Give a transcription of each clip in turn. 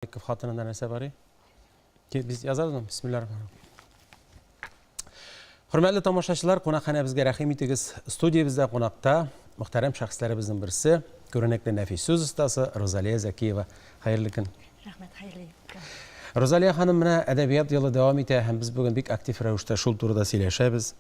Маликов хатынында нәрсә бар и? Без язабыз аны. Бисмиллаһ рахман Хөрмәтле тамашачылар, кунакханәбезгә рәхим итегез. Студиябездә кунакта мөхтәрәм шәхесләребезнең берсе, күренекле нәфис сүз остасы Розалия Закиева. Хәерле көн. Рәхмәт, хәерле көн. Розалия ханым менә әдәбият елы дәвам итә һәм без бүген бик актив рәвештә шул турыда сөйләшәбез.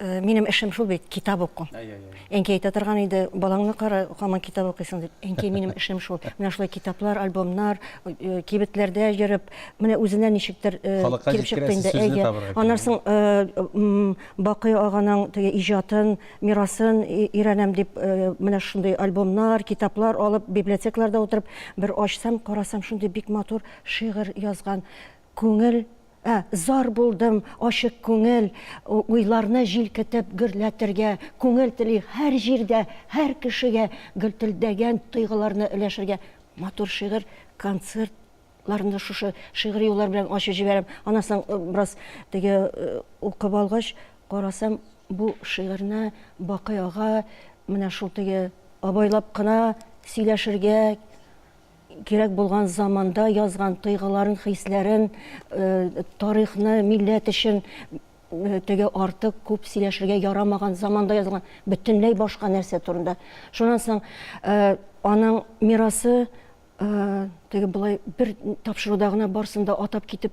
Э, минем эшем шул бит китап уку әнкәй әйтә торган иде балаңны кара һаман китап укыйсың дип әнкәй минем эшем шул менә шулай китаплар альбомнар э, э, кибетләрдә йөреп менә үзенә ничектер килеп чыкты инде әйе аннан соң бакый аганың теге иҗатын мирасын өйрәнәм дип менә шундый альбомнар китаплар алып библиотекаларда утырып бер ачсам карасам шундый бик матур шигырь язган Күңел, ә, зар булдым, ачык күңел, Уйларны җилкетеп гөрләтергә, Күңел тели һәр җирдә, һәр кешегә Гөлтелдәгән тойгыларны өләшергә. Матур шигырь, концерт ларны шушы шигъри юллар белән ачып җибәрәм. Аннан соң бераз теге укып алгач, карасам, бу шигырьне Бакый ага менә шул теге абайлап кына сөйләшергә, Кирәк булган заманда язган тойгыларын, хисләрен, тарихны, милләт өчен теге артык күп сөйләшергә ярамаган заманда язган бөтенләй башка нәрсә турында. Шуннан соң аның мирасы теге болай бер тапшыруда гына барсын да атап китеп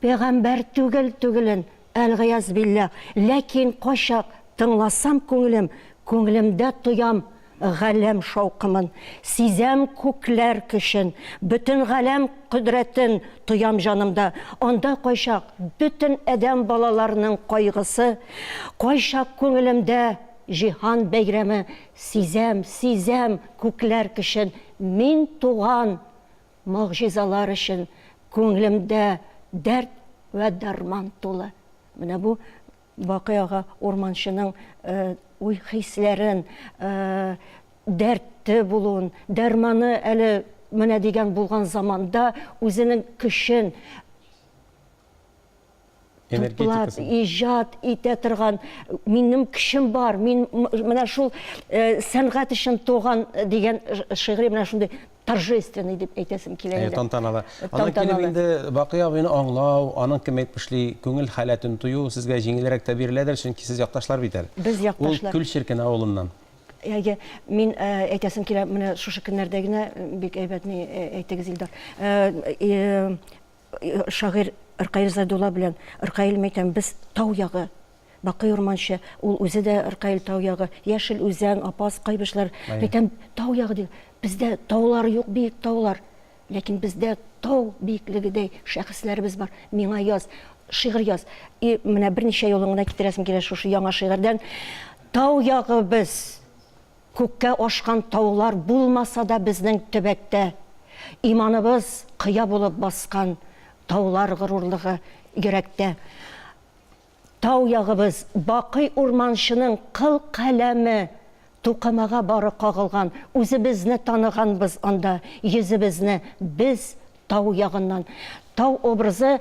Пәйгамбәр түгел түгелен әлгыяз билләх Ләкин кайчак тыңласам күңелем Күңелемдә тоям галәм шаукымын Сизәм күкләр көчен, бөтен галәм кодрәтен Тоям җанымда, анда кайчак бөтен адәм балаларының кайгысы Кайчак күңелемдә җиһан бәйрәме Сизәм, сизәм күкләр көчен Мин туган Могҗизалар өчен күңелемдә дәрт вә дәрман тулы. Менә бу вакыйгага урманчының уй-хисләрен, дәрте булуын, дәрманы әле менә дигән булган заманда үзенең көчен, энергетикасы. Туплап, иҗат итә торган, минем кешем бар, мин менә шул э, сәнгать өчен туган э, дигән шигыри менә шундый торжественный дип әйтәсем килә инде. Тантаналы. Аннан килеп инде Бакый абыйны аңлау, аның кем әйтмешли, күңел халәтен тою сезгә җиңелрәк тә биреләдер, чөнки сез якташлар бит әле. Без якташлар. Ул Күл Черкен авылыннан. Әйе, мин э, әйтәсем килә, менә шушы көннәрдә генә бик әйбәтне әйтегез, Илдар. Шагыйрь Ркаил Зайдулла белән Ркаил Мәйтәм без тау ягы. Бакый Урманчы, ул үзе дә Ркаил тау ягы. Яшел Үзән, Апас, Кайбычлар. Мәйтәм тау ягы ди. Бездә таулар юк, биек таулар. Ләкин бездә тау биеклегедәй шәхесләребез бар. Миңа яз, шигырь яз. И менә берничә юлын гына китерәсем килә шушы яңа шигырьдән. Тау ягы без! Күккә ашкан таулар булмаса да безнең төбәктә иманыбыз кыя булып баскан таулар горурлыгы йөрәктә Тау ягыбыз бакый урманчының кыл каләме Тукымага бары кагылган үзебезне таныганбыз анда Йөзебезне без тау ягыннан Тау образы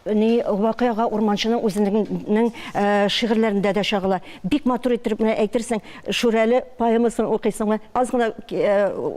Ни вакыйга урманчының үзенегнең шигырьләрендә дә чагыла. Бик матур иттереп менә әйтерсең, Шүрәле поэмасын укыйсыңмы, аз гына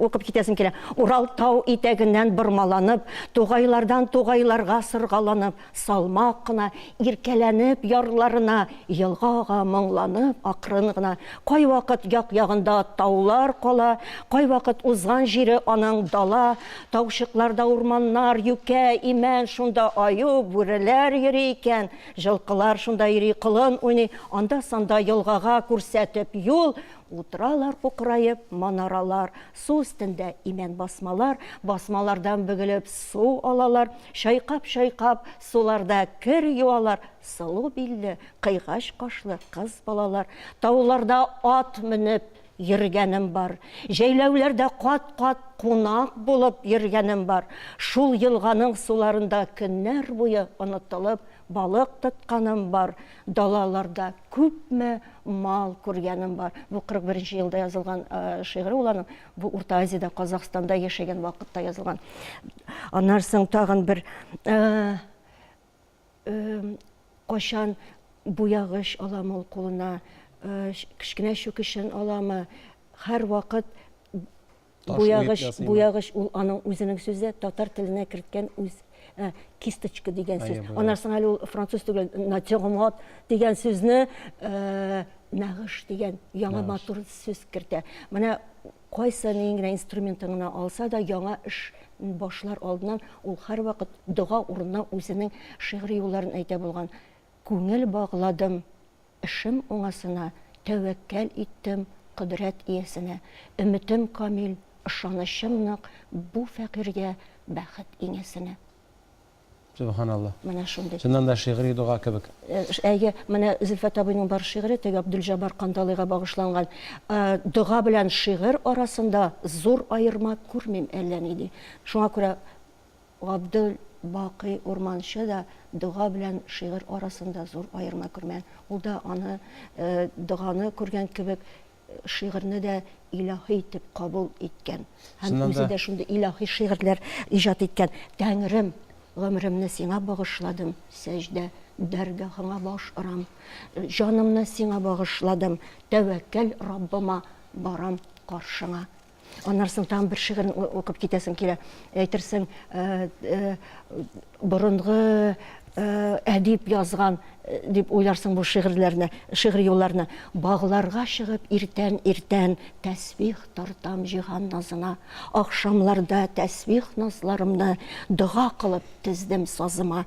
укып китәсең килә. Урал тау итәгеннән бормаланып, Тугайлардан тугайларга сыргаланып, Салмак кына, иркәләнеп ярларына, Елга ага моңланып акрын гына. Кайвакыт як-ягында таулар кала, Кайвакыт узган җире аның дала, Таучыкларда урманнар, юкә, имән, шунда аю, бүреләр йөри икән, җылкылар шунда йөри, колын уйный, анда-санда елгага күрсәтеп юл, утыралар кукыраеп манаралар, су өстендә имән басмалар, басмалардан бөгелеп су алалар, чайкап-чайкап суларда кер юалар, сылу билле, кыйгач кашлы кыз балалар, тауларда ат менеп Йөргәнем бар. Җәйләүләрдә кат-кат кунак булып йөргәнем бар. Шул елганың суларында көннәр буе онытылып балык тотканым бар. Далаларда күпме мал күргәнем бар. Бу 41 нче елда язылган шигыре ул аның. Бу Урта Азиядә, Казахстанда яшәгән вакытта язылган. Аннан соң тагын бер Кайчан буягыч аламы ул кулына, кечкенә чүкечен аламы, һәрвакыт буягыч, буягыч ул аның үзенең сүзе, татар теленә керткән үз кисточка дигән сүз. Аннан соң әле ул француз түгел, натюрморт дигән сүзне нәгыш дигән яңа матур сүз кертә. Менә Кайсы ниен генә инструментын гына алса да, яңа эш башлар алдыннан ул һәрвакыт дога урынына үзенең шигъри юлларын әйтә булган, Күңел багладым эшем уңасына, Тәвәккәл иттем кодрәт иясенә. Өметем камил, ышанычым нык, Бу фәкыйрьгә бәхет иңәсенә. Сөбханалла. Менә шундый. Чыннан да шигъри дога кебек. Әйе, менә Зөлфәт абыйның бар шигыре теге Абдулҗабар Кандалыйга багышланган. Дога белән шигырь арасында зур аерма күрмим әллә ни, ди. Шуңа күрә Габдул Бакый Урманчы да дога белән шигырь арасында зур аерма күрмәгән. Ул да аны доганы күргән кебек шигырьне дә илаһи итеп кабул иткән һәм үзе дә шундый илаһи шигырьләр иҗат иткән. Тәңрем, гомремне сиңа багышладым, сәҗдә, дәргахыңа баш орам. Җанымны сиңа багышладым, тәвәккәл Раббыма барам каршыңа. Аннан соң тагын бер шигырен укып китәсең килә. Әйтерсең, э, э, борынгы э, әдип язган дип уйларсың бу шигырьләрне, шигъри юлларны. Багларга чыгып иртән иртән тәсбих тартам җиһан назына. Ахшамларда тәсбих назларымны дога кылып тездем сазыма.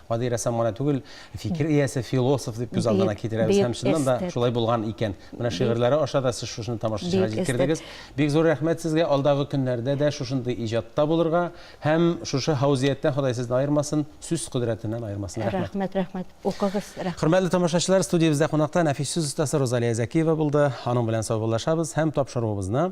Гади рәссам гына түгел, фикер иясе, философ дип күз алдына китерәбез. Һәм чыннан да шулай булган икән. Менә шигырьләре аша да сез шушыны тамашачыга җиткердегез. Бик зур рәхмәт сезгә, алдагы көннәрдә дә шушындый иҗатта булырга һәм шушы һаузияттән Ходай сезне аермасын, сүз кодрәтеннән аермасын. Рәхмәт. Рәхмәт, рәхмәт. Укыгыз. Рәхмәт. Хөрмәтле тамашачылар, студиябездә кунакта нәфис сүз остасы Розалия Зәкиева булды. Аның белән саубуллашабыз һәм тапшыруыбызны,